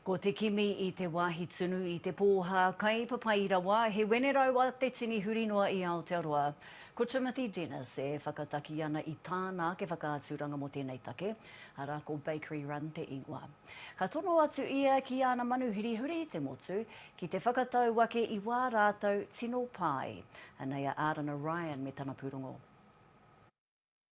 Ko te kimi i te wāhi tunu i te pōhā kai papai rawa, he wenerau a te tini huri noa i Aotearoa. Ko Timothy Dennis e whakataki ana i tāna ake whakaaturanga mō tēnei take, arā ko Bakery Run te ingoa. Ka tono atu ia ki ana manuhiri huri i te motu, ki te whakatau ake i wā rātou tino pai. Anei a Ārana Ryan me tana pūrongo.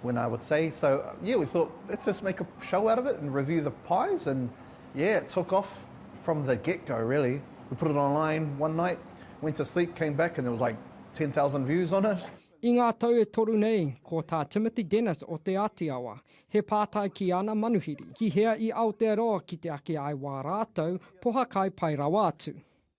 When I would say, so yeah, we thought let's just make a show out of it and review the pies and yeah, it took off from the get go really. We put it online one night, went to sleep, came back and there was like 10,000 views on it. I ngā tau e toru nei, ko tā Timothy Dennis o Te Āti Awa, he pātai ki ana manuhiri, ki hea i Aotearoa ki te ake ai wā rātou pohakai pai rawa atu.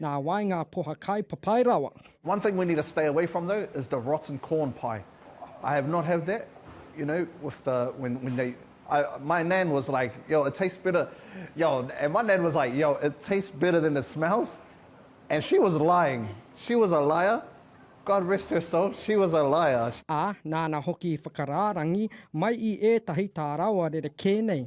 Nā wai ngā poha kai papai rawa? One thing we need to stay away from though is the rotten corn pie I have not have that you know with the when when they I my nan was like yo it tastes better yo and my nan was like yo it tastes better than it smells and she was lying she was a liar God rest her soul she was a liar. Ā, nāna hoki i whakarārangi mai i ētahi tā rawa rerekē nei.